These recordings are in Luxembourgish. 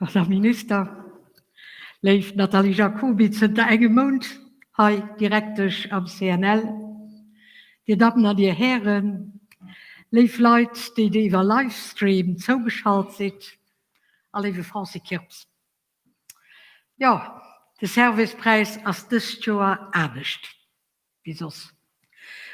Herr Minister, léif Nathalie Jacoby, zënter engem Mount hei Direktesch am CNL. Dir Dammen an Dir Hären, léif Leit, déi Dir iwwer Livestream zougeschalt sidd, a léiwe Francis Kirps, jo, de Servicepräis ass dëst Joer anescht. Wéi soss.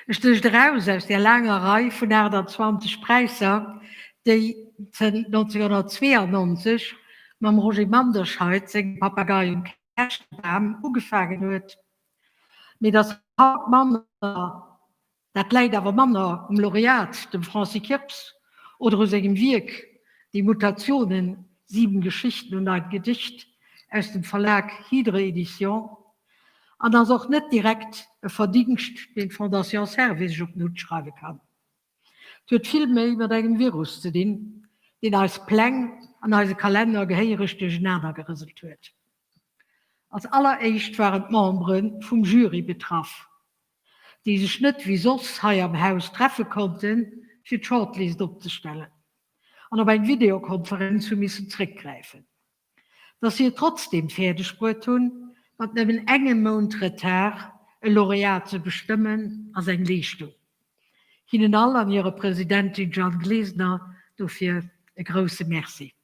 Ech sicht eraus aus där laanger Rei vun 28 Präisser, déi zënnt 1992 mam Roger Manderscheid sengem Papagei um Käschtebam ugefaangen huet, mee datt haut manner, dat läit awer manner um Laureat, dem Francis Kirps, oder u sengem Wierk Die Mutationen, Sieben Geschichten und ein Gedicht aus dem Verlag Hydre Edition, An ass och net direkt e Verdingscht, deen d'Fondation Servais sech op den Hutt schreiwe kann. Et huet vill méi mat engem Virus ze dinn, deen eis Pläng an eise Kalenner gehéiereg duerchenaner gerëselt huet. Als alleréischt waren d'Membere vum Jury betraff, déi sech net wéi soss hei am Haus treffe konnte fir d'Shortlist opzestellen an op eng Videokonferenz hu missen zréckgräifen. Dass si et trotzdeem fäerdeg bruet hunn, mat nëmmen engem Mount Retard e Laureat ze bestëmmen, ass eng Leeschtung. Hinnen all an hirer Presidentin Jeanne Glesener dofir e grousse Merci.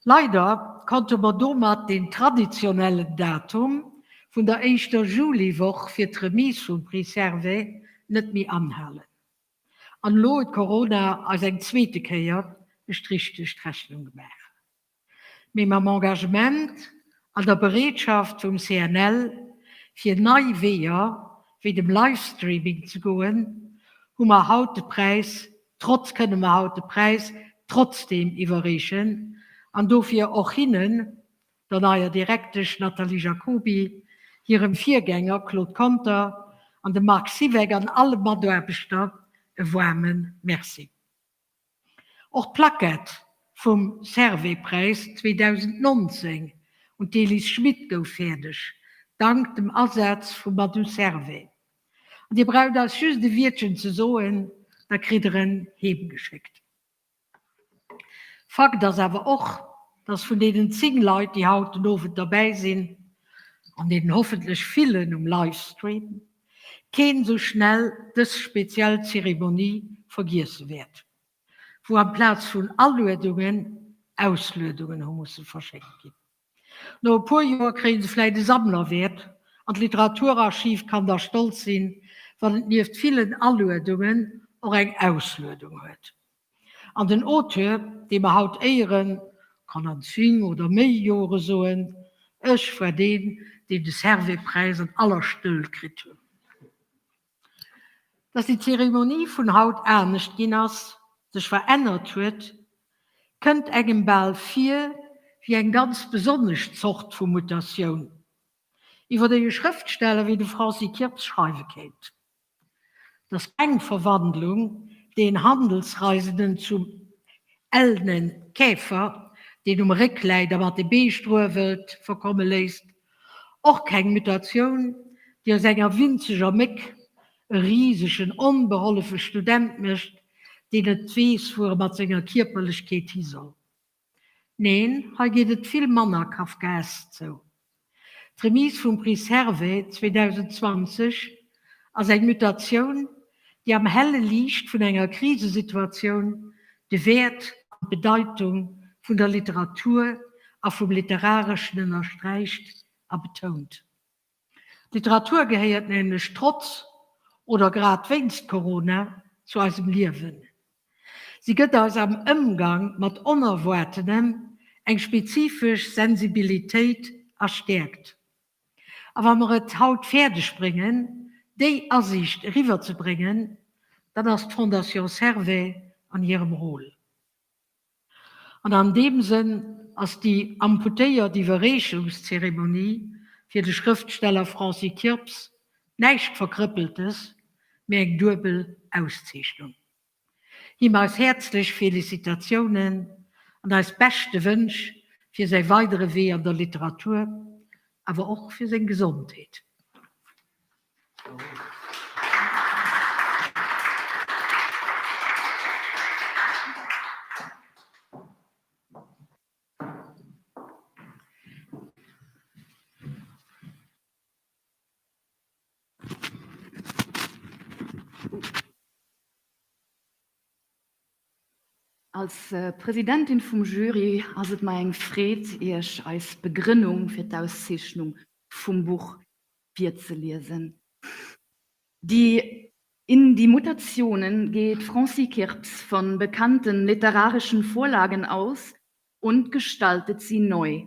Leider konnte mer domat den traditionellen Datum vun der éischter Juliwoch fir d'Remise vum Prix Servais net méi anhalen. An elo huet Corona eis eng zweete Kéier e Strich duerch d'Rechnung gemaach, mee mam Engagement an der Bereetschaft vum CNL, fir nei Weeër wéi dem Livestreaming ze goen, hu mer haut de Präis trotz kënne mer haut de Präis trotzdeem iwwerreechen an dofir och hinnen der neier Direktesch Nathalie Jacoby, hirem Virgänger Claude Conter an dem Marc Siweck an alle Mataarbechter e waarme Merci. Och d'Plackett vum Servais-Präis 2019 un d'Elise Schmit gouf fäerdeg, dank dem Asaz vum Madou Servais. An Dir braucht eis just e Wiertchen ze soen, da kritt Der en heemgeschéckt. Fakt ass awer och, dass vun deenen 10 Leit, déi haut den Owend derbäi sinn, an deenen hoffentlech villen um Livestream, keen esou schnell dës speziell Zeremonie vergiesse wäert, wou amplaz vun Aluedungen Ausluedungen hu musse verschéckt ginn. No e puer Joer kréie se vläit e Sammlerwäert an d'Literaturarchiv kann da stolz sinn, wann et nieft villen Aluedungen och eng Ausluedung huet. An den Auteur, dee mer haut éieren, kann an zwéin oder méi Jore soen, Ech war deen, deen de Servais-Präis an aller Stëll kritt hunn. Dass déi Zeremonie vun haut anescht ginn ass, sech verännert huet, kënnt engem bal vir wéi eng ganz besonnesch Zort vu Mutatioun, iwwer déi e Schrëftsteller wéi de Francis Kirps schreiwe kéint, dass eng Verwandlung deen Handelsreisenden zum ellenen Käfer, deen um Réck läit a mat de Bee struewelt, verkomme léisst, Och keng Mutatioun, déi aus enger winzeger Méck e risegen, onbehollefe Student mécht, deen net weess, wou e mat senger Kierperlechkeet hi soll. Neen, hei geet et vill manner kafkaesk zou. D'Remise vum Prix Servais 2020 ass eng Mutatioun, déi am helle Liicht vun enger Krisesituatioun de Wäert an d'Bedeitung vun der Literatur a vum Literareschen ënnersträicht a betount. D'Literatur gehéiert nämlech trotz oder grad wéinst Corona zu eisem Liewen. Si gëtt eis am Ëmgang mat Onerwaartenem eng spezifesch Sensibilitéit a stäerkt. A wa mer et haut fäerdeg bréngen, déi Asiicht eriwwerzebréngen, dann ass d'Fondation Servais an hirem Rôle. An an deem Sënn ass déi amputéiert Iwwerreechungszeremonie fir de Schrëftsteller Francis Kirps näischt Verkrëppeltes, mee eng duebel Auszeechnung. Him eis häerzlech Felicitatiounen an eis beschte Wënsch fir säi weidere Wee an der Literatur, awer och fir seng Gesondheet. Als Presidentin vum Jury ass et mer eng Freed, Iech eis Begrënnung fir d'Auszeechnung vum Buch virzeliesen. Die in die Mutationen geht Francie Kirps von bekannten literarischen Vorlagen aus und gestaltet sie neu.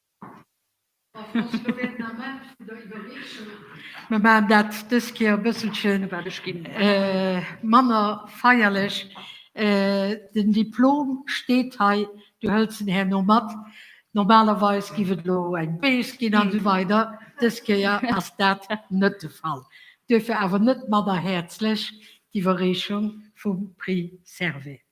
Mir maachen dat dës Kéier e bësselche manner feierlech. Den Diplom steet hei, du hëls en herno mat. Normalerweis géif et elo eng Bees ginn an esou weider. Dës Kéier ass dat net de Fall. Duerfir awer net manner häerzlech d'Iwwerreechung vum Prix Servais.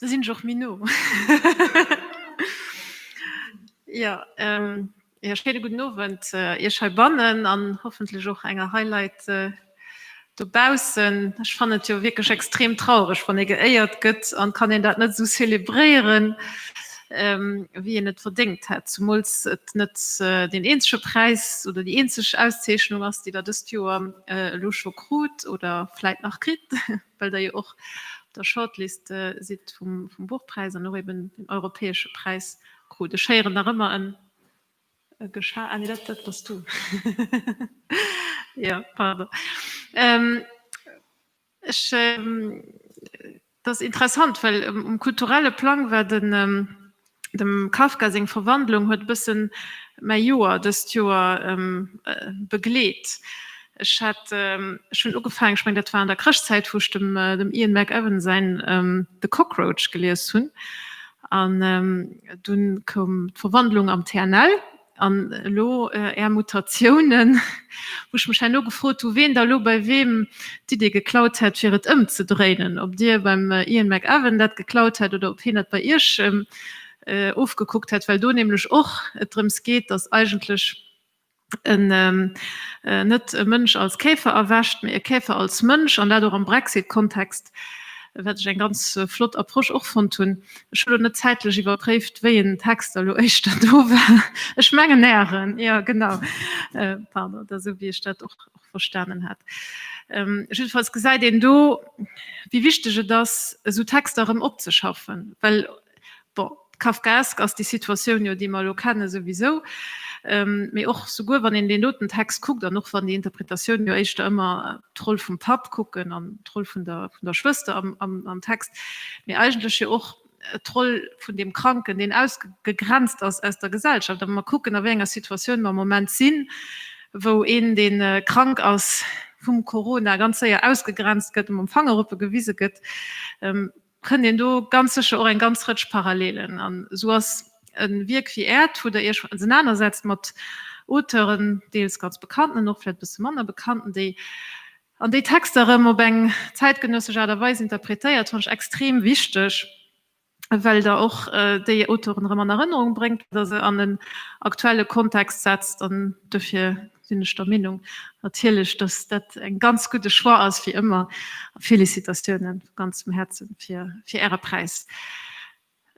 Do sinn ech och méi no. Jo, ee schéine gudden Owend Iech heibannen an hoffentlech och enger hei Leit dobaussen. Ech fannen et jo wierklech extrem traureg, wann ee geéiert gëtt an kann een dat net esou zelebréieren, wéi een et verdéngt hätt. Zumools et net deen eenzege Präis oder déi eenzeg Auszeechnung ass, déi Der dëst Joer elo scho krut oder vläit nach kritt. well der jo och op der Shortlist sidd vum Buchpräis an och eben den europäesche Präis krut. Ech héieren nach ëmmer en Gescha, ah nee, dat dat bass du, jo, pardon. Ech, dat ass interessant, well um kulturelle Plang war de. Dem Kafka seng Verwandlung huet bëssen mäi Joer dëst Joer begleet. Ech hat schonn ugefaangen, ech mengen dat war an der Chrëschtzäit, wou ech dem Ian McEwan säin The Cockroach gelies hunn an dunn koum d'Verwandlung am TNL. An elo Är Mutatiounen, wou ech mech herno gefrot hu ween da elo bei weem d'Idee geklaut hätt fir et ëmzedréinen, ob Dir beim Ian McEwan dat geklaut hätt oder ob hien dat bei Iech ofgekuckt hätt, well do nämlech och et drëms geet, datt eigentlech en net e Mënsch als Käfer erwächt, mee e Käfer als Mënsch, an dat och am Brexit-Kontext, wat ech eng ganz flott Approche och fonnt hunn. Ech hunn elo net zäitlech iwwerpréift, wéi een Text elo éischter do war. Ech mengen Ären, jo genau. Pardon, da esou wéi ech dat och verstanen hat. Jiddefalls gesäit een do, wéi wichteg et ass, esou Texter erëm opzeschaffen. Well, bon, kafkaesk ass déi Situatioun jo, déi mer elo kennen, souwisou. Mee och souguer, wann een deen doten Text kuckt an och wann déi Interpretatioun jo éischter ëmmer d'Roll vum Papp kucken an d'Roll vun der, vun der Schwëster am, am, am Text, mee eigentlech jo och d'Roll vun deem Kranken, deen ausgegrenzt ass aus der Gesellschaft. A wa mer kucken, a wéi enger Situatioun mer am Moment sinn, wou een, dee krank ass vum Corona, ganz séier ausgegrenzt gëtt, mam Fangerupegewise gëtt, fënnt een do ganz sécher och eng ganz Rëtsch Parallelen. An esou ass e Wierk wéi Äert, wou Der Iech ausenanersetzt mat Auteuren, deels ganz bekannten, och vläicht e bësse manner bekannten, déi an déi Texter erëm op eng zäitgenössesch Aart a Weis interpretéiert, fand ech extrem wichteg, well Der och déi Auteuren erëm an Erënnerung bréngt a se an en aktuelle Kontext setzt. An dofir sinn ech der Meenung natierlech, dass dat en ganz gudde Choix ass, wéi ëmmer, a Félicitatioune vu ganzem Häerze fir Äre Präis.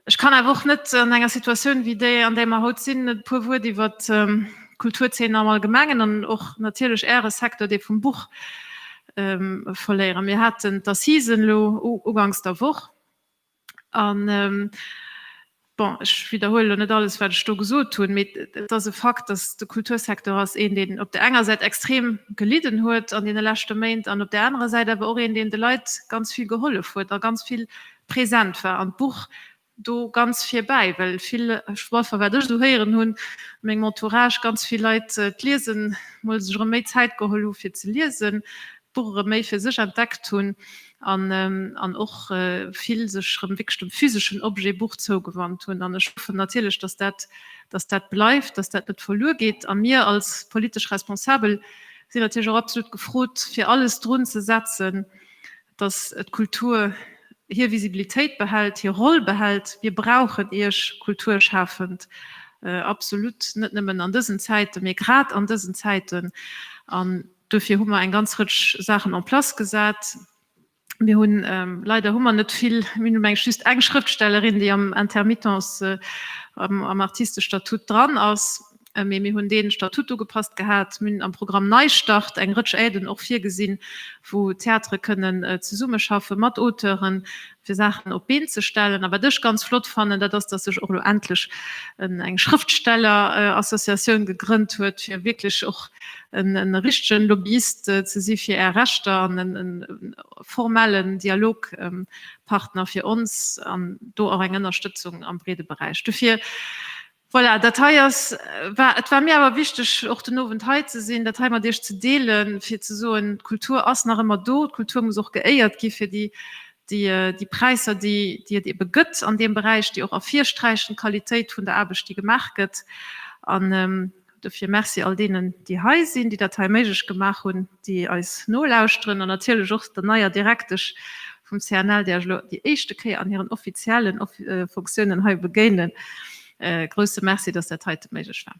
Ech kann awer och net an enger Situatioun wéi déi, an där mer haut sinn, net e puer Wuert iwwert d'Kulturzeen am Allgemengen an och natierlech Äre Secteur, dee vum Buch, verléieren. Mir haten d'Assisen elo uganks der Woch. An bon, ech widderhuele elo net alles, wat ech do gesot hunn, mee et ass e Fakt, dass de Kultursecteur ass een, deen op där enger Säit extrem gelidden huet an deene leschte Méint an op där anerer Säit awer och een, deen de Leit ganz vill gehollef huet a ganz vill present war an d'Buch do ganz virbäi, well vill, enfin wat ech esou héieren hunn a mengem Entourage, ganz vill Leit d'Liese mol sech erëm méi Zäit geholl hu fir ze liesen, d'Buch erëm méi fir sech entdeckt hunn. an an och vill sech rëm wierklech dem physeschen Objet Buch zougewannt hunn an ech hoffen natierlech, dass dat, dass dat bleift, dass dat net verluer geet a mir als politesch Responsabel sinn natierlech och absolut gefrot fir alles drun ze setzen, dass d'Kultur hir Visibilitéit behält, hir Roll behält. Mir brauchen Iech Kulturschafend absolut, net nëmmen an dësen Zäiten, mee grad an dësen Zäiten an. Duerfir hu mer eng ganz Rëtsch Saachen en place gesat. Mir hunn, leider hu mer net vill, mir hunn mengs just eng Schrëftstellerin, déi am Intermittence, am Artistestatut dran ass, mee mir hunn dee Statut ugepasst gehat. Mir hunn am Programm Neistart eng Rëtsch Aiden och virgesinn, wou Theatere kënnen zesummeschaffen mat Auteuren, fir Saachen op d'Been ze stellen. A wat ech ganz flott fannen, dat ass, datt sech och elo endlech eng Schrëftstellerassociatioun gegrënnt huet, fir wierklech och e richtegen Lobbyist ze si fir Är Rechter an e formellen Dialogpartner fir ons an do och eng Ënnerstëtzung am breede Beräich. Dofir Voilà, dat hei ass, war, et war mir awer wichteg, och den Owend hei ze sinn, dat hei mat Iech ze deelen, fir ze soen, d'Kultur ass nach ëmmer do, d'Kultur muss och geéiert gi fir déi, déi, déi Präisser, déi, déi et eebe gëtt an deem Beräich, déi och ervirsträichen d'Qualitéit vun der Aarbecht, déi gemaach gëtt. An Dofir Merci all deenen, déi hei sinn, déi dat hei méiglech gemaach hunn, déi eis nolauschteren an natierlech och der neier Direktesch vum CNL, där ech elo déi éischte Kéier an hiren offiziellen Funktiounen hei begéinen. E grouse Merci, dass dat heite méiglech war.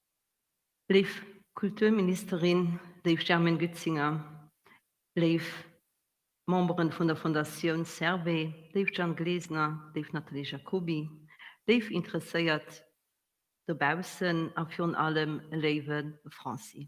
Léif Kulturministerin, léif Germaine Goetzinger, léif Memberen vun der Fondatioun Servais, léif Jeanne Glesener, léif Nathalie Jacoby, léif Interesséiert dobaussen a virun allem léiwe Francis.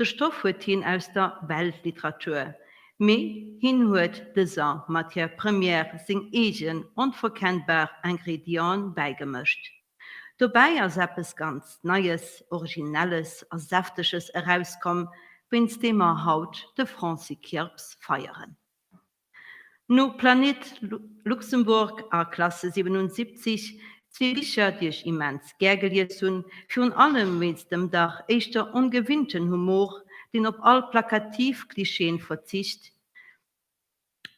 De Stoff huet hien aus der Weltliteratur, mee hien huet dëser Matière première seng eegen onverkennbar Ingrédienten bäigemëscht. Dobäi ass eppes ganz Neies, Originelles a Säfteges erauskomm, wéinst deem mer haut de Francis Kirps feieren. No Planet Luxembourg a Klasse 77, zwee Bicher, déi ech immens gär gelies hunn, virun allem wéinst dem dach éischter ongewinnten Humor, deen op all plakativ Klischeeën verzicht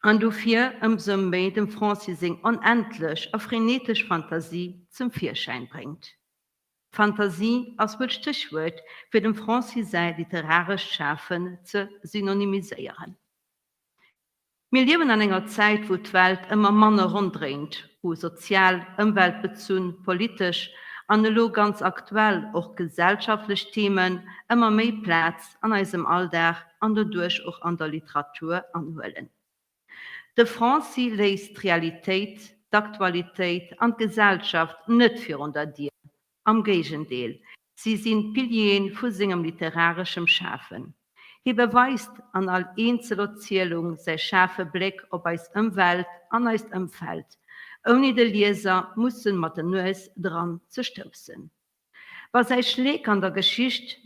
an dofir ëmsou méi dem Francis seng onendlech a frenetesch Fantasie zum Virschäin bréngt. Fantasie ass wuel d'Stéchwuert, fir dem Francis säi literarescht Schafen ze synonymiséieren. Mir liewen an enger Zäit, wou d'Welt ëmmer manner ronddréint, wou sozial, ëmweltbezunn, politesch an elo ganz aktuell och gesellschaftlech Themen ëmmer méi Plaz an eisem Alldag an doduerch och an der Literatur anhuelen. De Francy léisst d'Realitéit, d'Aktualitéit an d'Gesellschaft net virun der Dier, Am Géigendeel, si sinn d'Piliere vu sengem literareschem Schafen. Hie beweist an all eenzel Erzielung säi schaarfe Bléck op eis Ëmwelt an eist Ëmfeld, ouni de Lieser mussen mat der Nues dran ze stoussen. Wa säi Schleek an der Geschicht.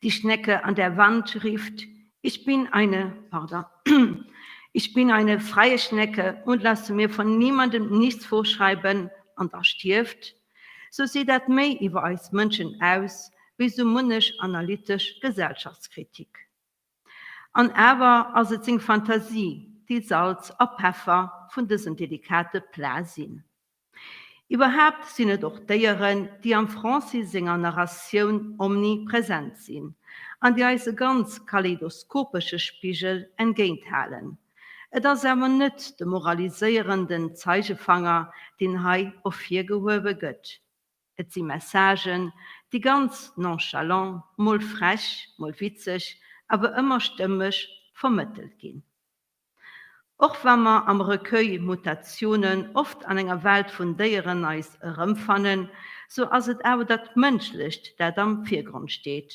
Die Schnecke an der Wand rifft, Ich bin eine, pardon, Ich bin eine freie Schnecke und lasse mir von niemandem nichts vorschreiben, an da stierft, sou seet dat méi iwwer eis Mënschen aus wéi sou munnech analytesch Gesellschaftskritik. An awer ass et seng Fantasie, déi Salz a Peffer vun dësem delikate Plat sinn. Iwwerhaapt sinn et och Déieren, déi am Francis senger Narratioun omnipresent sinn an déi eis e ganz kaleidoskopesche Spigel entgéinthalen. Et ass awer net de moraliséierenden Zeigefanger, deen hei ervirgehuewe gëtt. Et si Messagen, déi ganz nonchalant, mol frech, mol witzeg, awer ëmmer stëmmeg vermëttelt ginn. Och wa mer am Recueil Mutationen oft an enger Welt vun Déieren eis erëmfannen, sou ass et awer dat Mënschlecht, dat am Virgrond steet,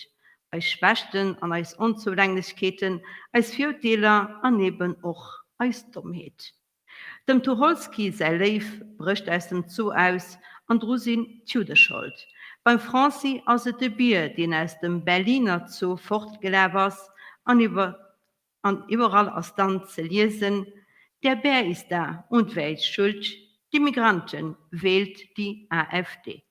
eis Schwächten an eis Onzoulänglechkeeten, eis Virurteeler an eben och eis Dommheet. Dem Tucholsky säi Léiw brécht aus dem Zoo aus an dru sinn d'Judde schold. Beim Francy ass et de Bier, deen aus dem Berliner Zoo fortgelaf ass an iwwer An iwwerall ass dann ze liesen, Der Bär ist da und wer ist schuld? Die Migranten, wählt die AfD.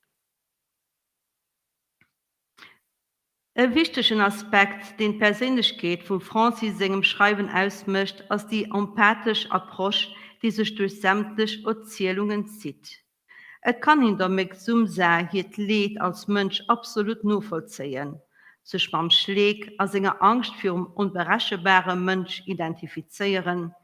E wichtegen Aspekt, deen d'Perséinlechkeet vum Francis sengem Schreiwen ausmécht, ass déi empathesch Approche, déi sech duerch sämtlech Erzielungen zitt. Et kann een der Mek Sumsa hiert Leed als Mënsch absolut novollzéien, sech mam Schleek a senger Angscht virum onberechenbare Mënsch identifizéieren,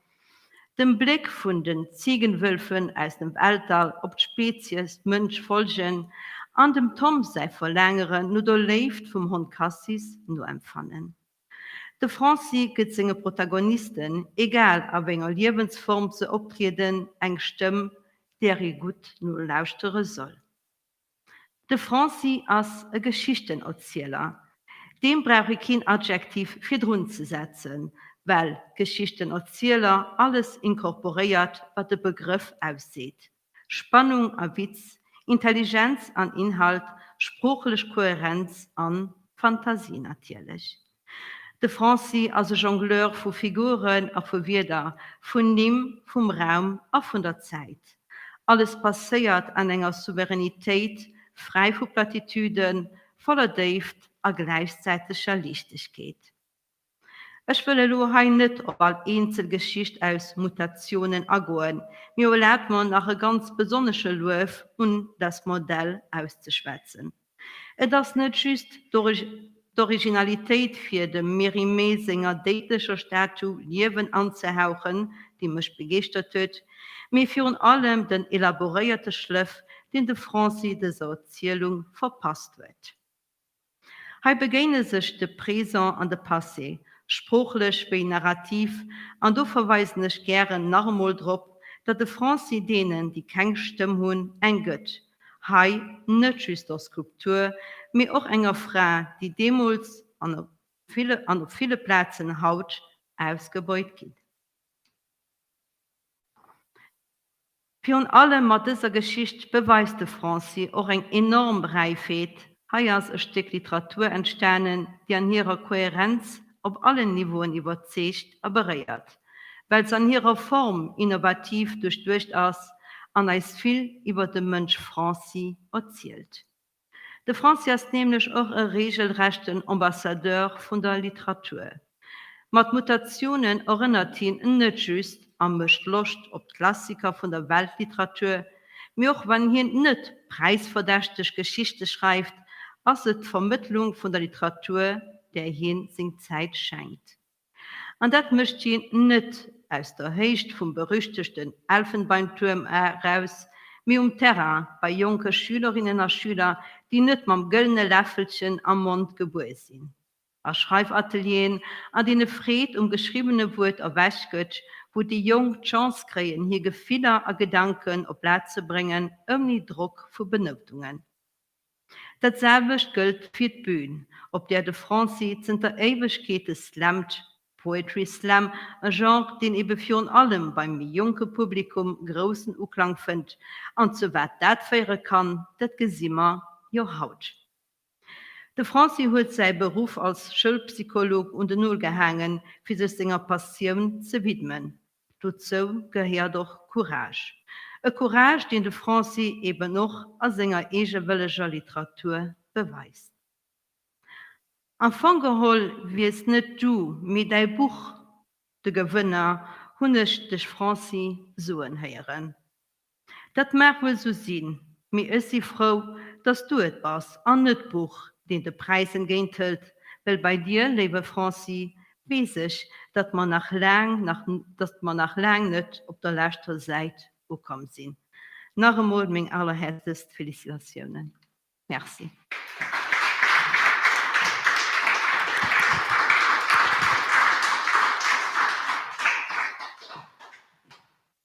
dem Bléck vun den Ziegenwölfen aus dem Weltall op d'Spezies Mënsch folgen an dem Tom säi Verlaangeren no der Léift vum Hond Cassis noempfannen. De Fransi gëtt senge Protagonisten, egal a wénger Liewensform se optrieden, eng Stëmm, där ee gutt nolauschtere soll. De Fransi ass e Geschichtenerzieler. Deem brauch ee keen Adjektiv virdrun ze setzen, well Geschichtenerzieler alles inkorporéiert, wat de Begrëff ausseet. Spannung a Witz, Intelligenz an Inhalt, sproochlech Kohärenz a Fantasie natierlech. De Francy ass e Jongleur vu Figuren a vu Wierder, vun Nimm, vum Raum a vun der Zäit. Alles passéiert an enger Souveränitéit, fräi vu Platitüden, voller Déift a gläichzäiteger Liichtegkeet. Ech wëll elo hei net op all eenzel Geschicht aus Mutationen agoen, mee erlaabt mer nach e ganz besonnesche Luef un das Modell auszeschwätzen. Et ass net just d'Originalitéit fir dem Mérimée senger déidlecher Statu Liewen anzehauchen, déi mech begeeschtert huet, mee virun allem den elaboréierte Schlëff, deen de Francy dëser Erzielung verpasst huet. Hei begéine sech de Présent an de Passé, sproochlech wéi narrativ, an do verweisen ech gären nach emol drop, datt de Français deenen, déi keng Stëmm hunn, eng gëtt, hei net just der Skulptur, mee och enger Fra, déi deemools an op ville Plazen haut ausgebeut ginn. Virun allem mat dëser Geschicht beweist de Francy och eng enorm Räifheet, Hei ass e Stéck Literatur entstanen, déi an hirer Kohärenz op allen Niveauen iwwerzeegt a beréiert, well s'an hirer Form innovativ duerchduecht ass an eis vill iwwer de Mënsch Francy erzielt. De Fransi ass nämlech och e reegelrechten Ambassadeur vun der Literatur. Mat Mutatiounen erënnert hien en net just a mécht Loscht op d'Klassiker vun der Weltliteratur, mee och wann hien net präisverdächteg Geschichte schreift, ass et d'Vermëttlung vun der Literatur, där hien seng Zäit schenkt. An dat mécht si net aus der Héicht vum berüchtegten Elfenbeintuerm eraus, mee um Terrain bei jonke Schülerinnen a Schüler, déi net mam gëllene Läffelchen am Mond gebuer sinn. A Schreifatelieren, an deene Freed um geschriwwene Wuert erwäch gëtt, wou déi Jonk d'Chance kréien, hir Gefiller a Gedanken op Blat ze bréngen, ouni Drock vu Benoutungen. Dat selwecht gëllt fir d'Bün, op där de Fransi zënter Éiwegkeete slammt, Poetry Slam, e Genre, deen ebe virun allem beim méi jonke Publikum groussen Uklang fënnt. An zu wat dat féiere kann, dat gesi mer jo haut. De Fransi huet säi Beruff als Schoulpsycholog un den Nol gehaangen, fir sech senger Passioun ze widmen, Dozou gehéiert och Courage. E Courage, deen de Francy eben och a senger eegewëlleger Literatur beweist. Am Fong geholl wiers net du, mee däi Buch de Gewënner, hunn ech dech Francy soen héieren. Dat mag wuel sou sinn, mee ech si frou, dass du et bass an net d'Buch, deen de Präis entgéinthëlt, well bei dir, léiwe Franci, weess ech, datt mer nach laang, datt mer nach laang net op der leschter Säit ukomm sinn. Nach emol meng allerhäerzlechst Felicitatiounen. Merci.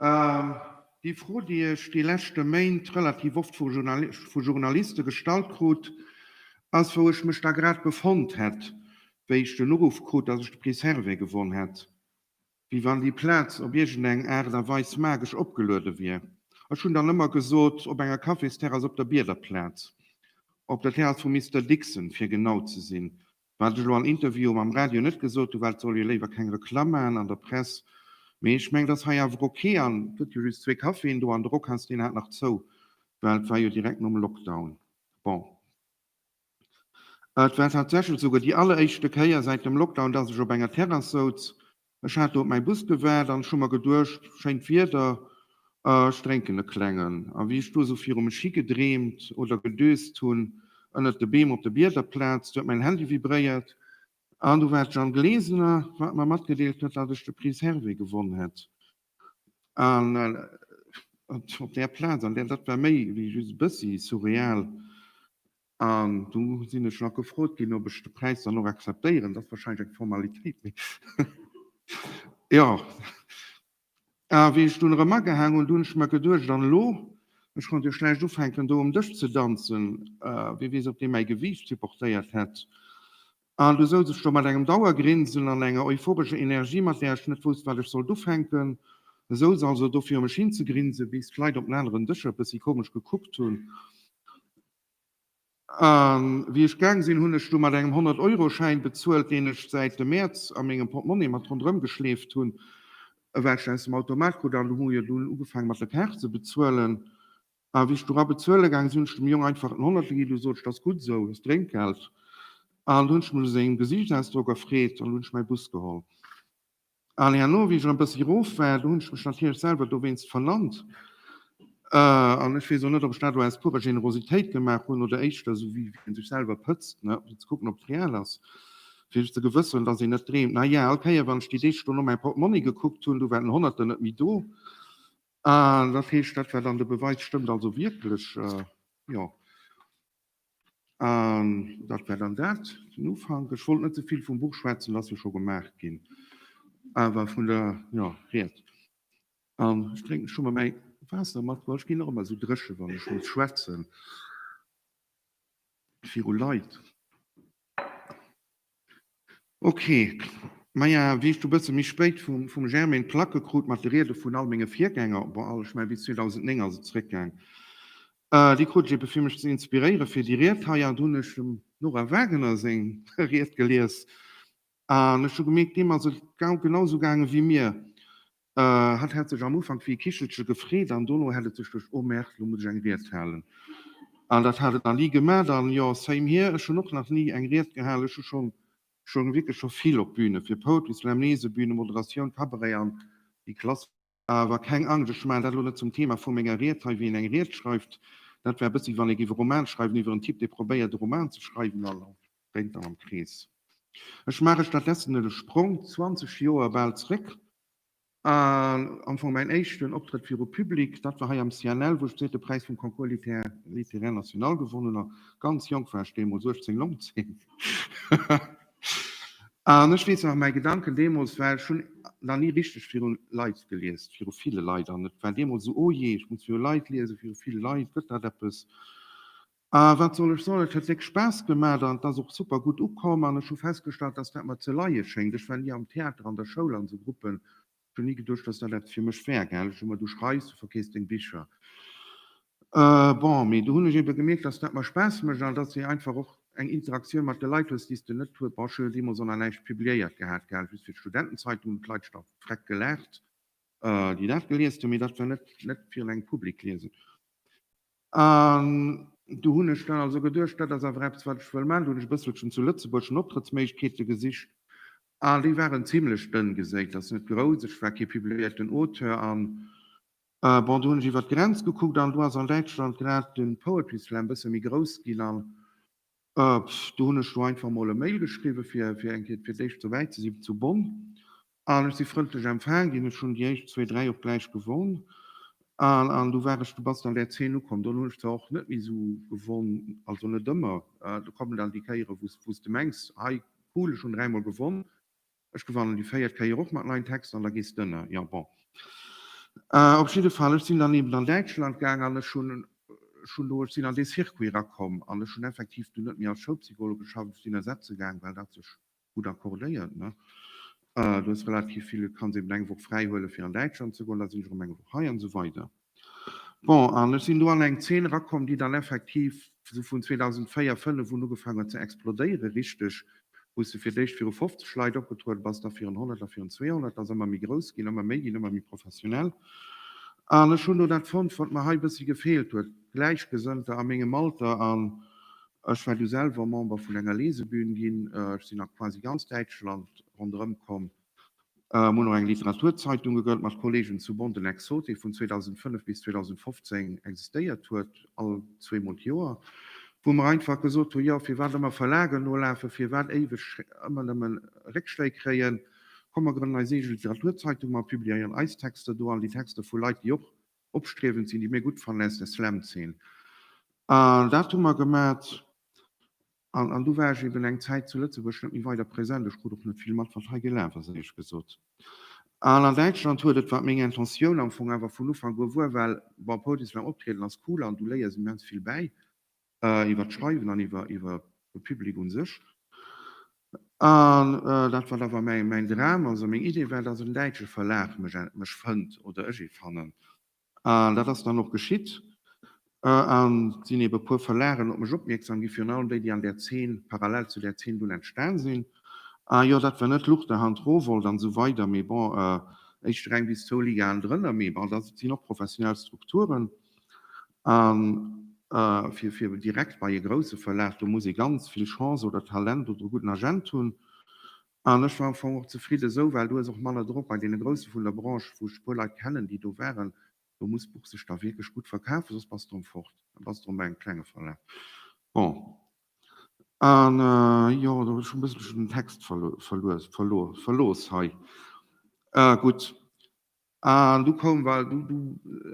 Déi Fro, déi ech déi leschte Méint relativ oft vu Journaliste gestallt krut, ass, wou ech mech da grad befonnt hätt, wéi ech den Uruff krut, datt ech de Prix Servais gewonn hätt. Wéi wann déi Plaz op iergendeng Aart a Weis magesch opgeluede wier. Ech hunn dann ëmmer gesot, op enger Cafésterrass op der Biederplaz, op der Terrass vum Mister Dixon, fir genau ze sinn. Wat ech elo an Interviewen am Radio net gesot hunn, war, et soll jo léiwer keng Reklamm maachen an der Press, mee ech mengen, et ass hei awer ok. An et gëtt jo just zwee Caféen do an de Rockhals, deen hat nach zou, well et war jo direkt nom Lockdown. Bon, et war tatsächlech souguer déi alleréischte Kéier säit dem Lockdown, dass ech op enger Terrass souz, Ech hat do op mäi Bus gewaart an ech hu mer geduecht, schéint Wieder, ech drénken e klengen. A wéi ech do esou viru mech higedreemt oder gedöst hunn, ënnert de Beem op de Bieder platzt, huet mäin Handy vibréiert. An do war d'Jeanne Glesener, wat mer matgedeelt huet, datt ech de Prix Hervé gewonn hätt. An op där Plaz, an där, dat war méi wéi just e bëssi surreal. An du sinn ech nach gefrot ginn, ob ech de Präis dann och akzeptéieren. Dat ass warscheinlech eng Formalitéit, mee jo. A wéi ech dunn erëm agehaang hunn, du hunn ech mer geduecht, an elo? Ech konnt jo schlecht ufänken, do um Dësch ze danzen, wie weess, ob dee mäi Gewiicht supportéiert hätt. An du souz ech do mat engem Dauergrinsen an enger euphorescher Energie, mat där ech net wousst, wat ech sollt ufänken. Ech souz also do fir u mech hinzegrinsen, bis d'Leit op den aneren Dëscher e bëssi komesch gekuckt hunn. A wéi ech gaang sinn, hunn ech du mat engem Honnert-Euro-Schäin bezuelt, deen ech säit dem Mäerz a mengem Portemonnaie mat ronderëm geschleeft hunn, well ech aus dem Automat krut. An hu jo dunn ugefaangen, mat der Kaart ze bezuelen. A wéi ech du rabezuele gaang sinn, hunn ech dem Jong einfach en Honnertel ginn. Du sot, Et ass gutt esou, hues Drénkgeld. An du hunn ech mech u sengem Gesiichtsausdrock erfreet an du hunn ech mäi Bus geholl. Allez, elo wéi ech e bëssi rof war, do hunn ech mech natierlech selwer dowéinst verlannt. An ech weess och net, ob ech dat elo aus purer Generositéit gemaach hunn oder éischter esou wéi een sech selwer pëtzt, ne, fir ze kucken, ob et real ass, fir sech ze gewësseren, dass een net dreemt. Naja, all Kéier, wann ech déi Deeg do no mäi Portmonni gekuckt hunn, du war den Honnerter net méi do. Dat heescht, dat war dann de Beweis, stëmmt also wierklech, jo. An dat war dann dat, den Ufank. Ech wollt net ze vill vum Buch schwätzen, et ass jo scho gemaach ginn, awer vun der, jo, Ried. An ech drénken, ech hu mer mäi Waasser matbruecht, ech ginn och ëmmer esou dréchen, wann ech muss schwätzen viru Leit. Ok, maja wéis du bësse méi spéit vum Germain d'Placke krut mat de Riede vun all menge Virgänger, bon all, ech mengen bis 2009 ass et zréckgaang, déi krut ech eben fir mech ze inspiréiere fir déi Ried hei, an do hunn ech dem Nora Wagener seng Ried gelies an ech hu gemierkt deem ass et genau sou gaange wéi mir. Hatt hätt sech am Ufank wéi e Kichelche gefreet an dono hätt et sech duerch Oh Merk, lo muss ech eng Ried halen. An dat hat et dann ni gemat. An jo, same here, ech hunn och nach ni eng Ried gehal. Ech hu schonn, schonn wierklech scho vill op Bühne fir Poetry Slam, Lese, Bühne, Moderatioun, Cabaret an déi Klassiker. Awer keng Angscht, ech maachen dat elo net zum Thema vu menger Ried hei, wéi een eng Ried schreift. Dat wär e bëssi wéi wann ee géif e Roman schreiwen iwwer en Typ, dee probéiert e Roman ze schreiwen. Dréint dann am Krees. Ech maach ech dat letzten de Sprong 20 Joer bal zréck an am Fong mäin éischten Optrëtt viru Public, dat war hei am CNL, wou ech d'zweete Präis vum Concours littéraire national gewonnen hunn. Ganz jonk war ech deemools, 18, 19. An ech weess nach, mäi Gedanken deemools war, ech hunn nach ni richteg viru Leit geliest, viru ville Leit. An et war deemools esou, oh jee, ech muss viru Leit liesen, viru vill Leit, gëtt dat eppes? A wat soll ech soen, et huet wierklech Spaass gemat an et ass och super gutt ukomm. An ech hu festgestallt, dass dat mer ze leie schéngt. Ech war ni am Theater, an der Schoul, an esou Gruppen. Ech hu ni geduecht, dass dat eppes fir mech wär. Gell, ech hu mer, du schreifs, du verkeefs deng Bicher, bon, mee do hunn ech ebe gemierkt, dass dat mer Spaass mécht an dass ee einfach och eng Interaktioun mat de Leit hues, déi s de net hues. Bon, ech hu jo deemools och nach näischt publiéiert gehat, gell, just fir d'Studentenzeitung, hunn d'Leit scho freck gelaacht, déi dat geliest hunn, mee dat war net fir un engem Public liesen. An do hunn ech dann also geduecht, dat ass awer eppes, wat ech wëll maachen. Do hunn ech e bësselchen zu Lëtzebuerg no Optrëttsméiglechkeete gesicht, a déi waren zimlech dënn geséit, also net grouss. Ech war kee publiéierten Auteur, a bon, do hunn ech iwwer d'Grenz gekuckt, an do ass an Däitschland grad de Poetry Slam e bësse méi grouss ginn, an Do hunn ech elo einfach emol e Mail geschriwwen, fir fir eng Kéier fir d'éischt souwäit ze sinn, zu Bonn. An ech si frëndlech empfaange ginn. Ech hunn déi éischt zwee, dräi och gläich gewonn. An an du war ech, du bass an där Zeen ukomm. Dunn hunn ech zwar och net méi esou gewonn, also net ëmmer. Do kommen dann déi Kéieren, wou s wou s de mengs, hei cool, ech hunn dräimol gewonn. Ech gewannen déi véiert Kéier och mat neien Texter an da gees de ënner. Jo bon. Op jidde Fall, ech sinn dann eben an Däitschland gaang an ech hunn, ech hunn do, ech sinn an dee Circuit erakomm an ech hunn effektiv dunn net méi als Schoulpsychologe geschafft. Ech sinn ersetze gaang, well dat sech gutt accordéiert. Du hues relativ vill, du kanns eben eng Woch fräi huelen, fir an Däitschland ze goen, da sinn ech erëm eng Woch hei an esou weider. Bon, an ech sinn do an eng Zeen erakomm, déi dann effektiv esou vun 2004, 5 un ugefaang huet ze explodéieren, richteg, wou s de fir d'éischt viru 50 Leit opgetrueden bass, da virun 100, da virun 200, ass ëmmer méi grouss ginn, ëmmer méi ginn, ëmmer méi professionell. An ech hunn do dat fonnt, wat mer hei e bëssi gefeelt huet, Gläichgesënnter a mengem Alter. An ech war du selwer Member vun enger Lesebühn ginn, ech sinn a quasi ganz Däitschland ronderëmkomm, Mir hunn och eng Literaturzeitung gegrënnt mat Kollegen zu Bonn, den Exotik, vun 2005 bis 2015 existéiert huet, all zweemol d'Joer, wou mer einfach gesot hu, jo, firwat ëmmer Verlagen nolafen, firwat éiweg ëmmer nëmme Réckschléi kréien, komm mer grënnen eis eege Literaturzeitung, mer publiéieren eis Texter do an déi Texter vu Leit, déi och opstriewend sinn, déi mir gutt fannen aus der Slam-Zeen. An dat hu mer gemat. An du war ech eben eng Zäit zu Lëtzebuerg net méi weider present. Ech krut och net vill mat, wat hei gelaf ass, éierlech gesot. An an Däitschland huet et, wat meng Intentioun am Fong awer vun Ufank u war, well, bon, Podieslam optrieden ass cool an du léiers immens vill bäi iwwert d'Schreiwen an iwwer de Public un sech. An dat, wat awer mäin Dram ass a meng Idee war, dass en däitsche Verlag mech fënnt oder ech ee fannen, An dat ass dann och geschitt. An et sinn ebe puer Verlagen op mech opmierksam gi, virun allem déi, déi an där Zeen, parallel zu där Zeen dunn entstan sinn. A jo, dat war net Luchterhand, Rowohlt an esou weider, mee bon, éischter eng bis zwou Ligaen drënner. Mee bon, dat sinn och professionell Strukturen. A fir direkt bei e grousse Verlag, do muss ee ganz vill Chance oder Talent oder e gudden Agent hunn. An ech war am Fong och zefridden esou, well do ass och manner drop bei deene Grousse vun der Branche, wou ech e puer Leit kennen, déi do waren. Do muss d'Buch sech da wierklech gutt verkafen, soss bass de erëm fort, da bass de erëm bei engem klenge Verlag. Bon, an jo, do hunn ech e bësselchen den Text verlooss hei. Gutt. An du koum bal, du, du,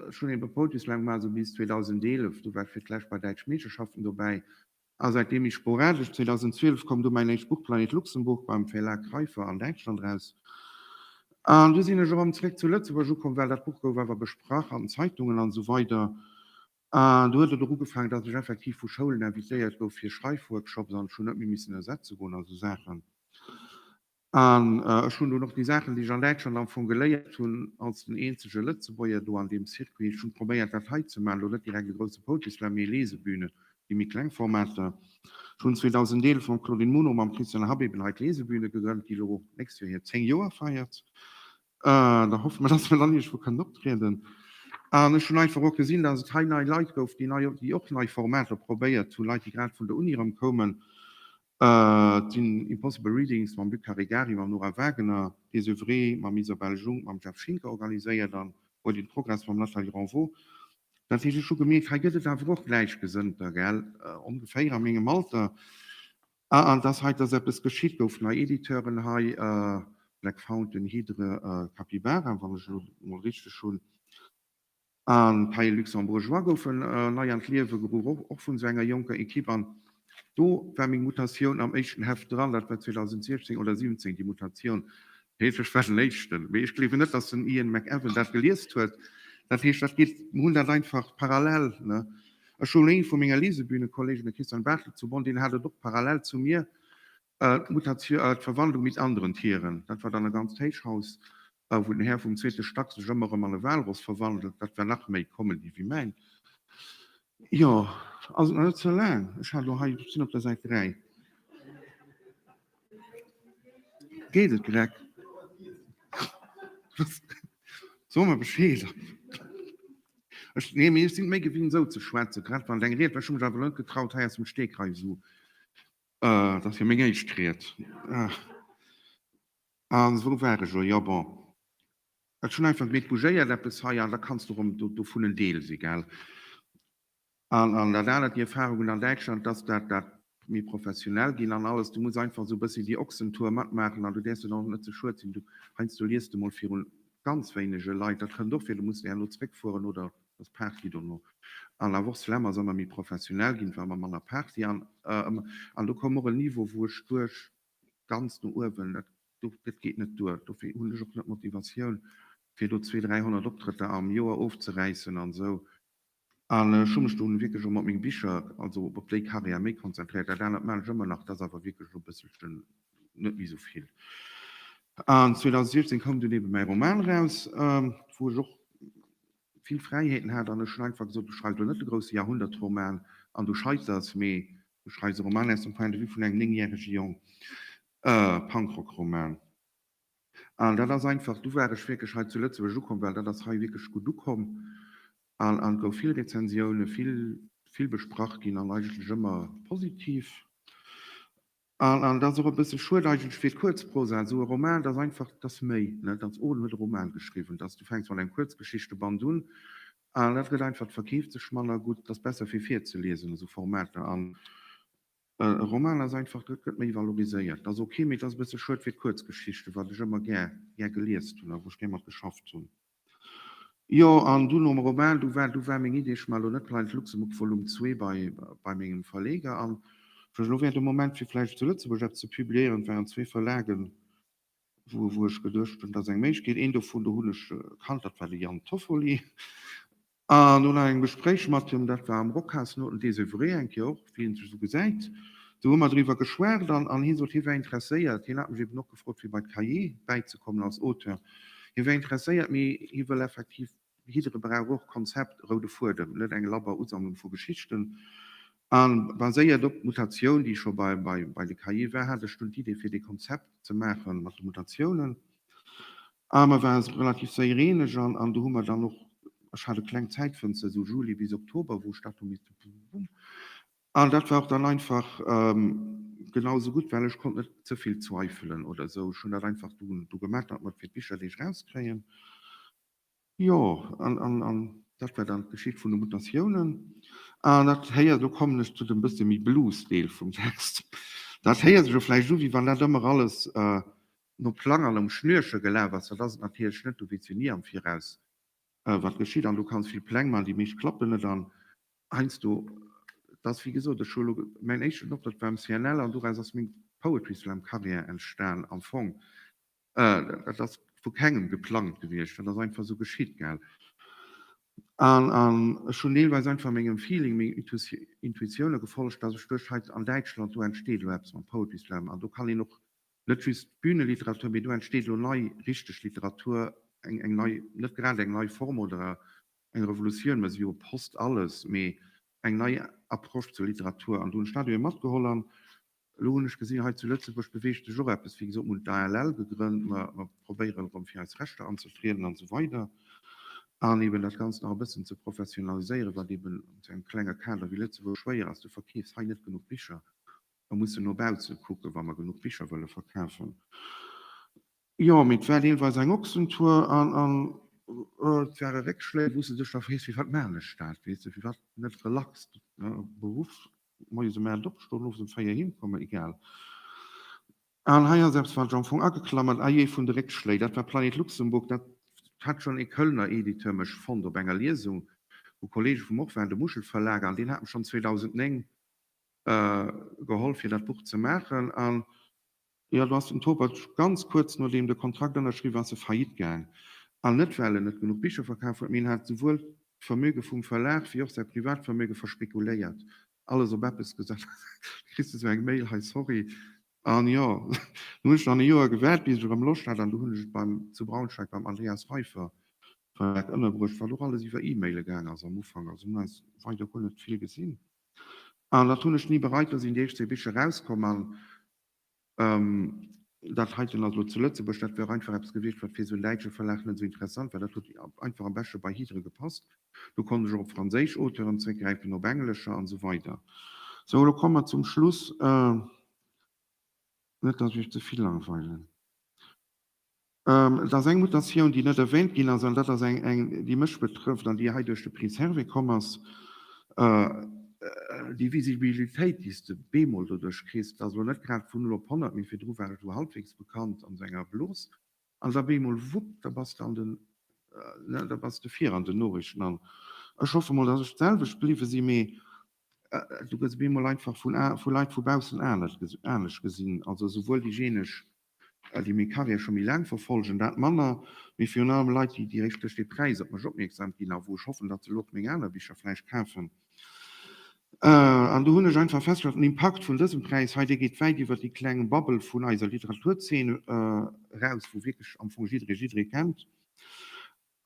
ech hunn e puer Poteaus laang gemaach, esou bis 2011, du war ech fir d'lescht bei Däitsch Meeschterschaften dobäi a säitdeem méi sporadesch. 2012 koum du mäin éischt Buch Planet Luxemburg beim Verlag Keifer an Däitschland eraus an du sinn ech erëm zréck zu Lëtzebuerg ukomm, well dat Buch gouf awer besprach an den Zeitungen an esou weider an du huet et och ugefaangen, dass ech effektiv vu Schoulen invitéiert gouf fir Schreifworkshops an ech hunn net méi missen ersetze goen a sou Saachen. An ech hunn dunn och déi Saachen, déi ech an Däitschland am Fong geléiert hunn, als den eenzege Lëtzebuerger do an deem Circuit, ech hunn probéiert, dat hei ze maachen, elo net direkt e grousse Poetry Slam, mee Lesebühnen, déi méi kleng Formater. Ech hunn 2011 mam Claudine Muno, mam Christian Habeben hei d'Lesebühne gegrënnt, déi elo d'nächst Joer hir 10 Joer feiert. Da hoffe mer, dass mer dann iergendwou kënnen optrieden. An ech hunn einfach och gesinn, dass et hei nei Leit gouf, déi och nei Formater probéiert hunn, Leit, déi grad vun der Uni erëm koumen, Et sinn Impossible Readings mam Luc Caregari, mam Nora Wagener, Des Oeuvres mam Isabelle Jung, mam Jeff Schinker organiséiert an What in Progress mam Nathalie Renvaux. Dat heescht, ech hu gemierkt, hei gëtt et awer och Gläichgesënnter, gell, ongeféier a mengem Alter. An dass hei, dass eppes geschitt, gouf nei Editeuren hei, Black Fountain, Hydre, Capybara, wann ech elo mol richteg hunn. A Pays Luxembourgeois goufe nei an d'Liewe geruff, och vun esou enger jonker Ekipp. An do war meng Mutatioun am éischten Heft dran, dat war 2016 oder 17, déi Mutatioun. Heescht, ech war den Éischten. Mee ech gleewen net, datt den Ian McEwan dat geliest huet. Dat heescht, dat geet, mir hunn dat einfach parallel, ne. Ech hunn ee vu menge Lesebühnekollegen, de Christian Bartelt zu Bonn, deen hat et och parallel zu mir. D'Mutatio-, d'Verwandlung mit anderen Tieren, dat war dann e ganzt Héichhaus, wou den Här vum zweete Stack sech ëmmer erëm an e Walross verwandelt, dat war nach méi Comedy wéi mäin. Jo, also nach net ze laang, ech hat elo hei, ech sinn op der Säit 3. Geet et, Greg? So mer Bescheed. Ech, nee, mee ech sinn et méi gewinnt esou ze schwätzen, grad wann et eng Ried war, ech hu mech awer elo net getraut hei aus dem Stegreif esou Et ass jo meng éischt Ried. A wou war ech? Jo, bon, ech hunn einfach gemeet, bougéiert eppes hei an da kanns du erëm dovun en Deel si. Gell? An dat anert, déi Erfarung hunn an Däitschland, dass dat dat méi professionell ginn an alles, du muss einfach esou e bëssi déi Ochsentour matmaachen an du däerfs der dann och net ze schued sinn. Du, heiansdo liest de mol virun ganz wéinege Leit, dat kënnt och vir, du muss elo zeréckfueren oder Als Party dono all Awoch Slam ass emmer méi professionell ginn, war emmer manner Party an an do koum och en Niveau wou ech duech ganz no uewen dat dat geet net duer. Dofir hunn ech och net d'Motivatioun fir do zwee 300 Optrëtter am Joer ofzeräissen an esou an ech hu mech dunn wierklech och mat menge Bicher also op déi Carrière méi konzentréiert. Dat anert maan ech ëmmer nach, dat ass awer wierklech elo e bësselchen net méi esou vill. An 2016 koum dunn eben mäi Roman raus wou ech och vill Fräiheeten hat an ech hunn einfach gesot, ech schreift elo net de grousse Jahrhundertroman an du scheiters, mee ech schreiws e Roman aus dem Point de vue vun engem néngjärege Jong, e Punkrockroman. An dat ass einfach, du war ech wierklech hei zu Lëtzebuerg ukomm, well dat ass hei wierklech gutt ukomm an et gouf vill Rezensiounen, vill vill besprach ginn an eigentlech ëmmer positiv. An dat ass och e bësse schued eigentlech fir d'Kuerzprosa. Esou e Roman, dat ass einfach, dat ass méi, net? Als Oden huet e Roman geschriwwen, dass du fänks mat engem Kuerzgeschichteband un an dat gëtt einfach, verkeeft sech manner gutt, dat ass besser fir virzeliesen, esou Formater. An e Roman ass einfach, dat gëtt méi valoriséiert, dat ass ok, mee et ass e bësse schued fir d'Kuerzgeschichten, wat ech ëmmer gär geliest hunn a wou ech gär mat geschafft hunn. Jo, an du nom Roman, du war, du war meng Idee, ech man elo net Blinds Luxembourg Volume zwee bei, bei mengem Verleger an wann ech elo wär de Moment fir vläicht zu Lëtzebuerg eppes ze publiéieren, et waren zwee Verlagen, wou, wou ech geduecht hunn, et ass eng Méiglechkeet, een dovun, do hunn ech kannt, dat war de Jan Toffoli. An no laangem Gespréich mat him, dat war am Rockhaus no dem Désœuvré, eng Kéier och, wéi een sech esou gesäit, do hu mer driwwer geschwat an an hie sot, hie wär interesséiert, hien hat mech eben och gefrot, fir bei d'Cahiers bäizekommen als Auteur, hie wär interesséiert, mee hie wëll effektiv, jiddere brauch och Konzept, roude Fuedem, net eng labber Usammlung vu Geschichten. A baséiert op d'Mutatioun, déi scho bei de Cahiers war, hat ech dunn d'Idee, fir dee Konzept ze maache mat de Mutatiounen. A mer ware relativ séier eeneg an do hu mer dann och, ech hat e klengt Zäitfënster, esou Juli bis Oktober, wou ech dat do misst bummbum. A dat war och dann einfach genau esou gutt, well ech konnt net ze vill zweifelen oder esou. Ech hunn dat einfach do gemat, datt mer fir d'Bicherdeeg erauskréien. Jo, an, an, an dat war dann d'Geschicht vun de Mutatiounen. An dat héiert, elo kommen ech zu dem bësse méi Blues-Deel vum Text, dat héiert sech jo vläicht u wéi wann dat ëmmer alles no Plang an um Schnürche gelaf ass. Dat ass et natierlech net, du weess jo ni am Viraus, wat geschitt. An du kanns vill Pläng maachen, déi meescht klappen net. An heiansdo, et ass wéi gesot, ech hu elo mäin éischten Optrëtt war um CNL an doraus ass meng Poetry-Slam-Carrière entstan am Fong. Dat ass vu kengem geplangt gewiescht, dat ass einfach esou geschitt, gell. An ech hunn deelweis einfach mengem Feeling, mengen Intuitioune gefollegt, datt ech duecht, hei an Däitschland, do entsteet elo eppes mam Poetry Slam an do kann een och net just d'Büneliteratur, mee do entsteet elo nei richteg Literatur, eng nei, net grad eng nei Form oder eng Revolutioun, well se jo post alles, mee eng nei Approche zur Literatur. An do hunn ech dat elo matgeholl an Elo hunn ech gesinn, hei zu Lëtzebuerg beweegt sech och eppes. Wéi gesot, mir hunn d'ALL gegrënnt, mer probéieren erëm fir eis Rechter anzetrieden an esou weider an eeben dat Ganzt nach e bëssen ze professionaliséieren, wat eeben zu engem klenge Kader wéi Lëtzebuerg schwéier ass. Du verkeefs hei net genuch Bicher. Mer mussen no bausse kucken, wa mer genuch Bicher wëlle verkafen. Jo, mee et war deelweis eng Ochsentour an et ware Réckschléi, wou s de dech da frees, firwat maachen ech dat, weess de, firwat net relax beruff. Moies em 8 opstoen, owes em 4 heem kommen, egal. Al hei ass eppes, wat ech am Fong ageklamert, Ayez vun de Réckschléi, dat war Planet Luxembourg, dat hat schonn ee Kölner Editeur mech fonnt op enger Liesung, wou Kollege vum och waren, de Muschel Verlag, an deen hat mech schonn 2009 gehollf fir dat Buch ze maachen. An Jo, do ass den Topaj ganz kuerz nodeem de Kontrakt ënnerschriww ass, e faillite gaang. An net well en net genuch Bicher verkaf huet, mee en hat souwuel d'Vermöge vum Verlag wéi och säi Privatvermöge verspekuléiert. Alles op eppes gesat. Da kriss de sou eng Mail, hei, sorry. An jo, do hunn ech dann e Joer gewaart, bis ech erëm Loscht hat. An du hunn ech et beim, zu Braunschweig beim Andreas Reifer Verlag ënnerbruecht, wat och alles iwwer E-Maile gaang ass am Ufank. Also mir hunn eis weider guer net vill gesinn. An dat hunn ech ni bereit. Do sinn déi éischt zwee Bicher erauskomm an Dat heiten ass elo zu Lëtzebuerg. Dat wär och einfach eppes gewiescht, wat fir esou en däitsche Verlag net esou interessant war. Dat huet einfach am beschte bei Hydre gepasst. Lo konnt ech och op franséisch Auteuren zréckgräifen, op englescher an esou weider. Sou, elo komme mer zum Schluss. Net, datt ech iech ze vill langweilen. Et ass eng Mutatioun, déi net erwähnt ginn ass, an dat ass eng, déi mech betrëfft an déi hei duerch de Prix Servais komm ass, déi Visibilitéit, déi s de bemol doduerch kriss, dass elo net grad vun null op honnert, mee virdru war et elo halbwegs bekannt an sou enger Blos, an da bemol, wupp, da bass de an den, ne, da bass de vir an den Noriichten. An ech hoffe mol, dass ech d'selwecht bliwwe sinn, mee du gëss bemol einfach vun Leit vu baussen anescht gesinn, also souwuel déi genesch Well déi meng Carrière scho méi laang verfolgen, dat manner, mee virun allem Leit, déi direkt duerch dee Präis op mech opmierksam ginn a wou ech hoffen, datt se elo och meng aner Bicher vläicht kafen. An do hunn ech einfach festgestallt, den Impakt vun dësem Präis hei, dee geet wäit iwwer déi kleng Bubble vun eiser Literaturzeen eraus, wou wierklech am Fong jidderee jidderee kennt.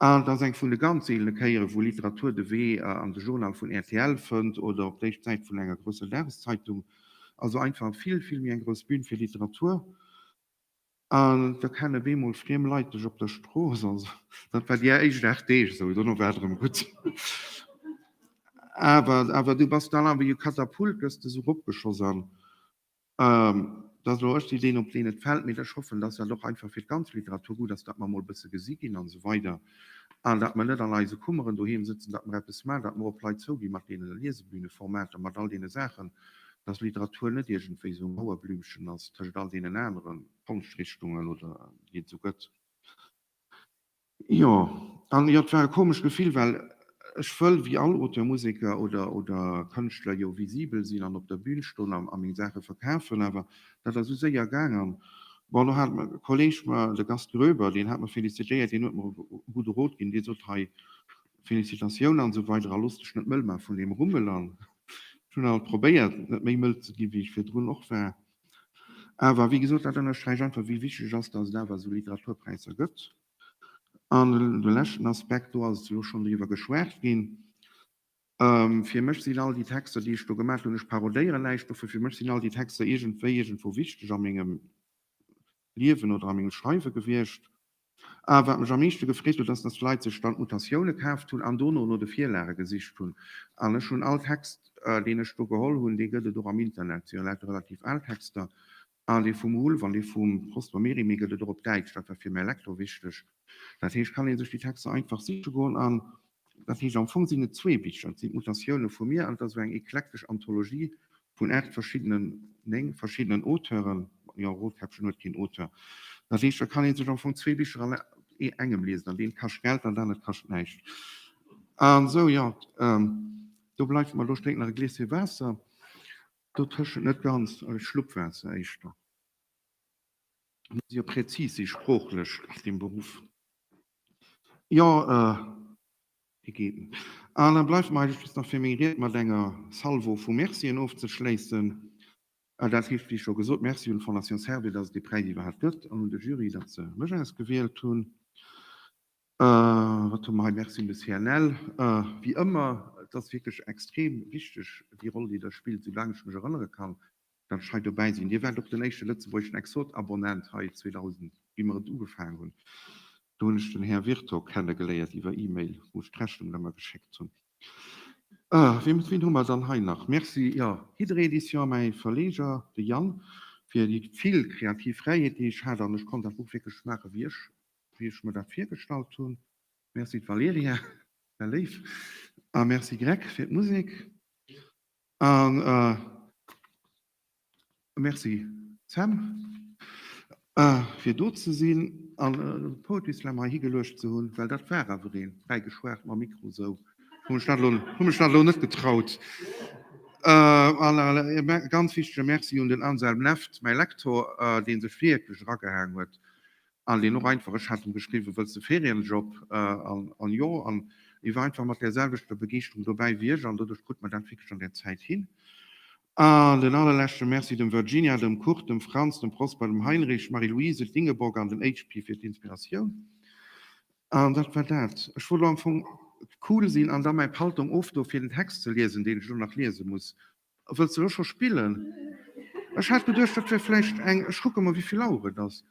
Et ass eng vun de ganz seelene Kéieren, wou Literatur de Wee an de Journal vun rtl fënnt oder op d'éischt d'Säit vun enger grousser Dageszeitung. Also einfach vill, vill méi eng grouss Bün fir Literatur. An da kenne bemol friem Leit dech op der Strooss. Also dat war déi éischt aacht Deeg esou, dono war et erëm gutt. Awer du bass dann awer jo Katapult, gëss des eropgeschoss an Dat ass elo ech déi deen op deen et fält, mee ech hoffen, dass dat och einfach fir d'ganz Literatur gutt ass, datt mer emol e bësse gesi ginn an esou weider an datt mer net an eise Kummeren doheem sëtzen, datt mer eppes maachen, datt mer och op Leit zouginn mat deene Liesebühneformater, mat all deene Saachen, datt Literatur net iergendwéi esou e Mauerblümchen ass tëschent all deenen anere Konschtrichtungen oder wéi et se gëtt. Jo, an jo, et war e komesch Gefill, well ech wëll wéi all Auteur, Museker oder oder Kënschtler jo visibel sinn an op der Bühn stoen a a meng Saache verkafen. Awer dat ass esou séier gaang an bon, elo hat e Kolleeg mer, de Gast Gröber, deen hat mer felicitéiert, deen huet mer e gudde Rot ginn, dee sot, hei, Felicitatioun an esou weider a looss dech net mëll maache vun deem Rummel. An ech hunn alt probéiert, net méi mëll ze ginn, wéi ech virdrun och war. Awer, wéi gesot, dat ënnersträicht einfach, wéi wichteg et ass, dass et awer esou Literaturpräisser gëtt. An de leschten Aspekt, do ass elo schonn driwwer geschwat ginn, Fir mech sinn all déi Texter, déi ech do gemaach hunn, ech parodéieren näischt dovun, fir mech sinn all déi Texter iergendwéi iergendwou wichteg a mengem Liewen oder a mengem Schreiwe gewiescht. A wat mech am meeschte gefreet huet, ass, dass d'Leit sech dann d'Notatioune kaaft hunn an dono no de Virlage gesicht hunn. An ech hunn all Text, deen ech do geholl hunn, dee gëtt et och am Internet, et si jo lauter relativ al Texter, an dee vum Wulff an dee vum Prosper Mérimée gëtt et och op Däitsch, dat war fir mäi Lektor wichteg. Dat heescht, kann ee sech déi Texter einfach siche goen an Dat heescht, am Fong sinn et zwee Bicher. Et sinn d'Mutatioune vu mir an et ass esou eng eklektesch Anthologie vun aacht verschiddenen, néng verschiddenen Auteuren. Jo, Roodkäppchen huet keen Auteur. Dat heescht, da kann ee sech am Fong zwee Bicher an engem liesen. An deem kascht Geld an dat anert kascht näischt. An esou, jo, do bleift mer elo, ech drénken nach e Gläschen Waasser dotëschent. Net ganz, e Schlupp Waasser éischter. Et muss jo präzis sinn, sproochlech, deem Beruff. Jo, hie geet. Alain, bleift mer eigentlech just nach fir meng Ried mat enger Salvo vu Mercien ofzeschléissen. Dat heescht, wéi scho gesot, Merci un d'Fondation Servir, datt et dee Präis iwwerhaapt gëtt an un de Jury, datt se mech ausgewielt hunn. Wat hu mer hei? Merci un de CNL, wéi ëmmer. Et ass wierklech extrem wichteg, déi Roll, déi Der spillt, soulaang ech mech erënnere kann, Dat ech hei dobäi sinn. Dir waart och den éischte lëtzebuergeschen Exot-Abonnent hei 2000, wéi mer et ugefaangen hunn. Do hunn ech den Här Virto kennegeléiert iwwer E-Mail, wou ech d'Rechnungen ëmmer geschéckt hunn. Ween hu mer dann hei nach? Merci, jo, Hydre-Edition, mäi Verleger, de Yann, fir déi vill kreativ Fräiheet, déi ech hat an ech konnt dat Buch wierklech maachen, wéi ech, wéi ech mer dat virgestallt hunn. Merci, d'Valerija, wär léif. A Merci, Greg, fir d'Musek. Merci Sam fir do ze sinn an de Poetry Slam hei higeluecht ze hunn, well dat war awer een, fräi geschwat mam Mikro esou, hu mech dat elo net getraut. An e ganz wichtege Merci un den Anselm Left, mäi Lektor, dee sech wierklech eragehaang huet An deen och einfach, ech hat em geschriwwen, Wëlls de Ferienjob? An jo, an e war einfach mat där selwechter Begeeschterung dobäi wéi ech, an doduerch krut mer dat wierklech an där Zäit hin. An en allerleschte Merci dem Virginia, dem Kurt, dem Franz, dem Prosper, dem Heinrich, d'Marie-Louise, d'Ingeborg an den HP fir d'Inspiratioun. An dat war dat. Ech wollt elo am Fong cool sinn an da mäi Paltong ofdoen, fir den Text ze liesen, deen ech elo nach liese muss. Wëlls de elo scho spillen? Ech hat geduecht, dat wär vläicht eng, ech kucke mol, wéi vill Auer et ass,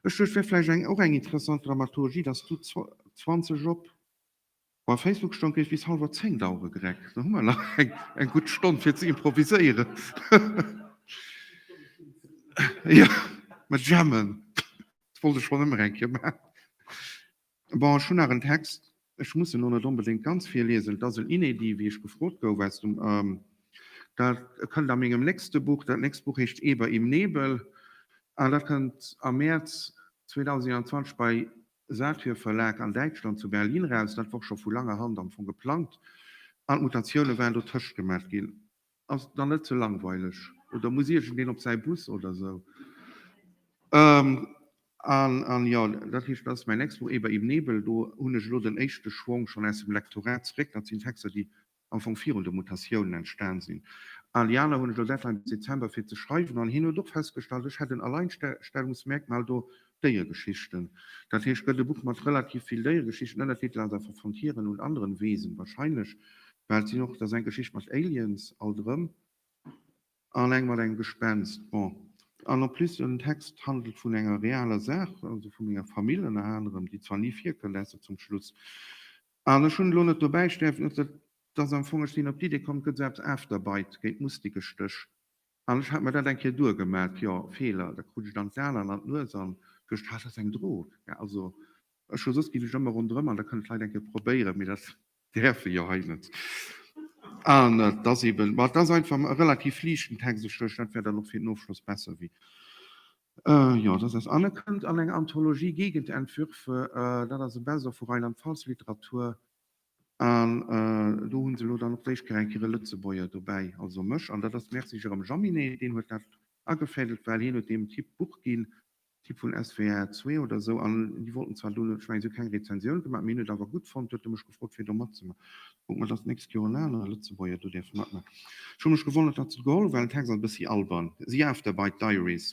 ech duecht, wär vläicht eng, och eng interessant Dramaturgie, dass du 20 op. Bei Facebook stoung, géif bis hallwer zéng dauere gereckt. Da hu mer nach eng gutt Stonn, fir ze improviséieren. Jo, mer jammen. Dat wollt ech schonn ëmmer eng Kéier maachen. Bon, ech hunn nach en Text, ech muss en elo net onbedéngt ganz virliesen, et ass en Inédit, wéi ech gefrot gouf aus dem, dat kënnt a mengem nächste Buch, dat nächst Buch heescht Eber im Nebel an dat kënnt am Mäerz 2021 bei Satyr Verlag an Däitschland zu Berlin raus. Dat wor scho vu langer Hand am Fong geplangt an d'Mutatioune waren dotëscht gemaach ginn. Ass et dann net ze langweileg oder muss iergendeen op säi Bus oder esou? An jo, dat heescht, dat ass mäin nächst Buch, Eber im Nebel. Do hunn ech elo den éischte Schwong schonn aus dem Lektorat zeréck. Dat sinn Texter, déi am Fong virun de Mutatiounen entstan sinn. Al déi aner hunn ech elo Deadline bis Dezember fir ze schreiwen. An hien huet och festgestallt, ech hätt en Alleinstellungsmerkmal do, Déiergeschichten. Dat heescht, gëtt e Buch mat relativ vill Déieregeschichten, ënner Titel Als er von hier an nun anderen Wesen, wahrscheinlech behält sinn och dass eng Geschicht mat Aliens, alt erëm, an eng mat engem Gespenst, bon, an en plus en Text handelt vun enger realer Saach, also vu menger Famill ënner anerem, déi zwar ni virkënnt, ausser zum Schluss, an ech hunn elo net dobäi stäerft, dass am Fong ech sinn op d'Idee komm, et gëtt esou eppes Afterbite géint Mustikestéch. An ech hat mer dat eng Kéier duergemat, jo, Feeler, da krut ech dann d'Saarland an d'Nues an duecht, ha, dat ass eng Drog. Mä also, ech hu soss, ginn ech ëmmer ronderëm an da kënne vläicht eng Kéier probéieren, mee dat däerf ee jo hei net. An et ass eeben, ma et ass einfach e relativ liichten Text, ech duecht, dat wär dann och fir den Ofschloss besser, wéi, jo, dass eis an. E kënnt an eng Anthologie Gegenentwürfe, dat ass e Best-of vu Rheinland-Pfalz-Literatur. An do hu se elo dann och d'éischt Kéier eng Kéier e Lëtzebuerger dobäi, also mech. An dat ass merci Jérôme Jaminet, deen huet dat agefädelt, well hien huet deem Typ d'Buch ginn, Typ vun SWR 2 oder esou. An déi wollten zwar do, ech mengen, si hu keng Rezensioun gemaach, mee hien huet et awer gutt fonnt, huet e mech gefrot, fir do matzemaachen. Kucken, ob dat nächst Joer en anere Lëtzebuerger do däerf matmaachen. Ech hu mech gewonnert, datt se et geholl hunn, well den Text ass e bëssi albern, The Afterbite Diaries.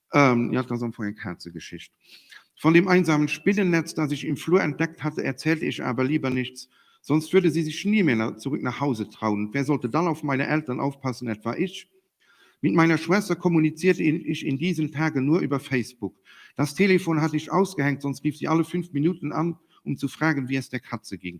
Ähm, ja, et ass am Fong eng Kazegeschicht. Von dem einsamen Spinnennetz, das ich im Flur entdeckt hatte, erzählte ich aber lieber nichts, sonst würde sie sich nie mehr zurück nach Hause trauen. Und wer sollte dann auf meine Eltern aufpassen? Etwa ich? Mit meiner Schwester kommunizierte ich in diesen Tagen nur über Facebook. Das Telefon hatte ich ausgehängt, sonst rief sie alle fünf Minuten an, um zu fragen, wie es der Katze ging.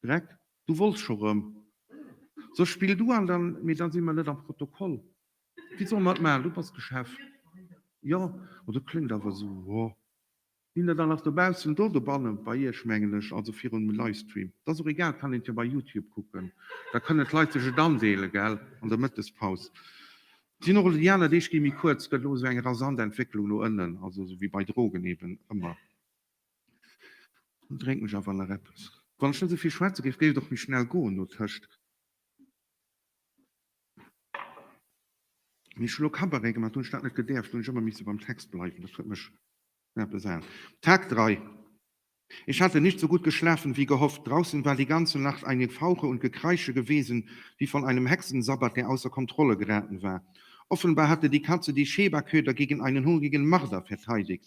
Breck, Du wolls scho rëm. Sou, spill du an dann, mee dann si mer net am Protokoll. Wie soll mat maachen? Du bass de Chef. Jo, ma dat kléngt awer sou, jo. Sinn der dann nach dobaussen do? Dobannen, bei iech mengen ech, also virum Livestream. T'ass och egal, kann een jo bei Youtube kucken, da kënnen d'Leit sech et andeelen, gell, an der Mëttespaus. Sinn och, déi aner Deeg gi méi kuerz, gëtt elo esou eng rasant Entwécklung no ënnen, also esou wéi bei Drogen eben ëmmer. Dann drénken ech awer nach eppes. Wann ech net esou vill schwätze géif, géif et och méi schnell goen no tëscht. Mee ech hu lo Cabaret gemaach, do hunn ech dat net gedäerft, do hunn ech ëmmer misse beim Text bleiwen, dat huet mech nach besaat. Tag 3 Ich hatte nicht so gut geschlafen wie gehofft, draußen war die ganze Nacht ein Gefauche und Gekreische gewesen, wie von einem Hexensabbat, der außer Kontrolle geraten war. Offenbar hatte die Katze die Shebaköder gegen einen hungrigen Marder verteidigt.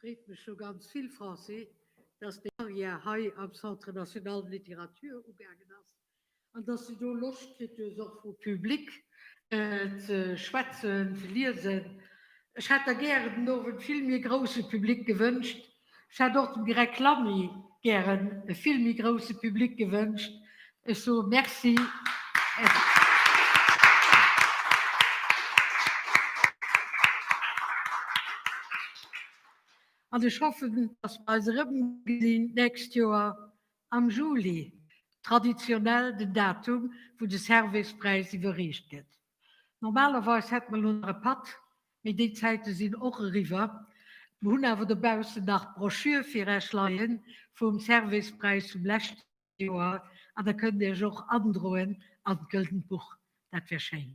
Freet mech scho ganz vill, Francis, dass deng Carrière hei am Centre National de Littérature ugaangen ass an dass de do Loscht kritt hues och vum Public ze schwätzen, ze liesen. Ech hätt der gären den Owend vill méi e grouse Public gewënscht. Ech hätt och dem Greg Lamy gären e vill méi grouse Public gewënscht, Ech soe Merci. An ech hoffen, dass mer eis erëmgesinn d'nächst Joer am Juli, traditionell den Datum, wou de Servais-Präis iwwerreecht gëtt. Normalerweis hätte mer elo nach e Patt, mee déi Zäite sinn och eriwwer. Mer hunn awer dobaussen nach d'Broschür fir Iech leien vum Servais-Präis vum leschte Joer an der kënnt Iech och androen an d'Gëldent Buch. Dat wär schéin.